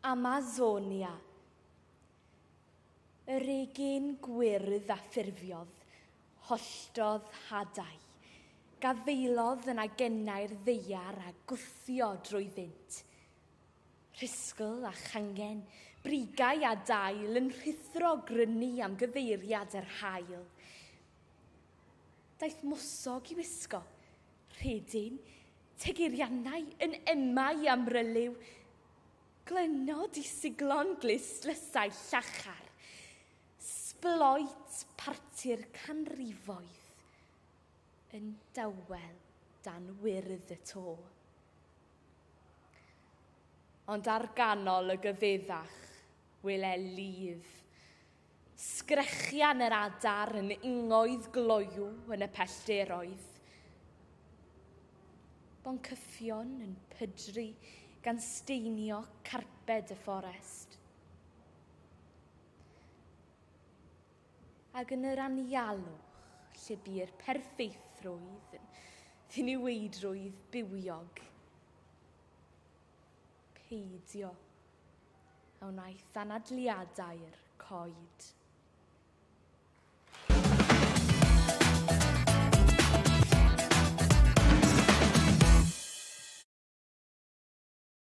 Amazonia. Yr egin gwyrdd a ffurfiodd, holltodd hadau, gafaelodd yn agennau'r ddaear a gwthio drwyddynt. Rhisgl a changen, brigau a dail yn rhuthro grynu am gyfeiriad yr haul. Daeth mwsog i wisgo, Rhedyn, Tegirianau yn ema i amryliw, Glynod i siglon glust lysau llachar, Sbloet parti'r canrifoedd yn dawel dan wyrdd y to. Ond ar ganol y gyfeddach wele lif, Sgrechian yr adar yn ingoedd gloyw yn y pellderoedd. Boncyffion yn pydru gan steinio carped y fforest. Ac yn yr anialwch lle bu'r perffeithrwydd yn ddiniweidrwydd bywiog. Peidio a wnaeth anadliadau'r coed.